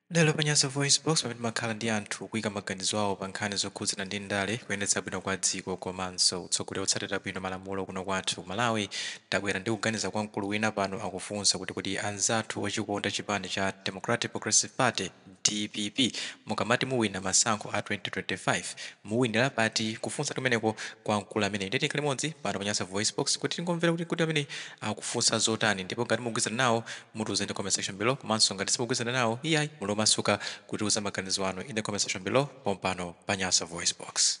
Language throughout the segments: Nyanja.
Lero pa Nyasa VoiceBox, pamene timakhala ndi anthu kuika maganizo awo pa nkhani zokhudzana ndi ndale, kuyendetsa bwino kwa dziko komanso utsogoleri otsatira bwino malamulo kuno kwathu ku Malawi, tabwera ndi kuganiza kwa mkulu wina pano akufunsa kuti kodi anzathu ochikonda chipani cha Democratic Progressive Party, dpp, mukamati muwina masankho a 2025, muwinira pati? Kufunsa kumeneko kwa mkulu ameneyu. Ndiye tikhale limodzi pano pa Nyasa VoiceBox kuti tingomvera kuti kodi ameneyu akufunsa zotani ndipo ngati mukugwirizana nawo, Mutiuze in the comment section below komanso ngati simukugwirizana nawo iyayi muli omasuka kutiuza maganizo anu in the comment section below pompano pa Nyasa Voice Box.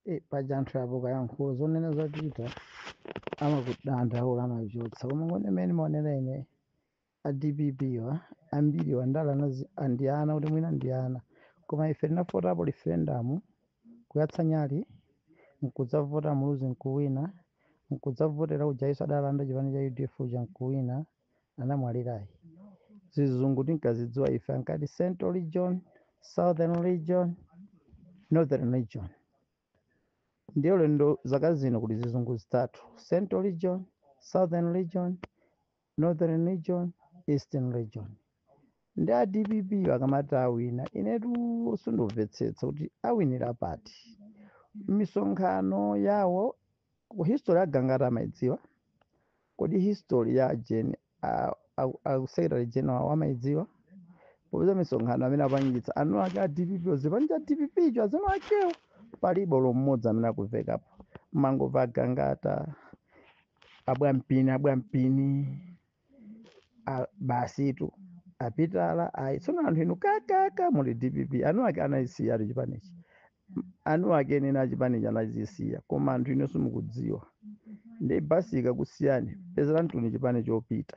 Eh, paja anthu apo kayankhulo zonena za Peter amakudandaula amachotsa koma ngone imene maonera ine a dpp wa ambiri wa ndale ndi ana kuti mwina ndi ana koma ife tinafotapo referendum kuyatsa nyali nkudzavota muluzi nkuwina nkudzavotera ujayiso adalanda chipani cha udf uja nkuwina anamwalirayi zizungu tinkazidziwa ife ankati central region southern region northern region ndiyo lendo zaka zino kuti zizungu zitatu central region southern region Northern region, Eastern region. Ndi a dpp akamati awina. Inetu sindimvetsetsa kuti awinira pati. Misonkhano yawo history agangata amayidziwa. Kodi history ya Jane a, a, a Secretary General wamaidziwa? Popeza misonkhano amene apangitsa eni ake a dpp chipani cha dpp cho azieni akewo palibe olo mmodzi amene akuvekapo. Mangomva agangata abwampini abwampini a- basitu apitala ayi tsono anthu inu kakaka muli dpp eni ake anayisiya tu chipanichi eni ake eni achipanichi anachisiya koma anthu inu simukudziwa ndi basi ikakusiyani pezeranitu chipani chopita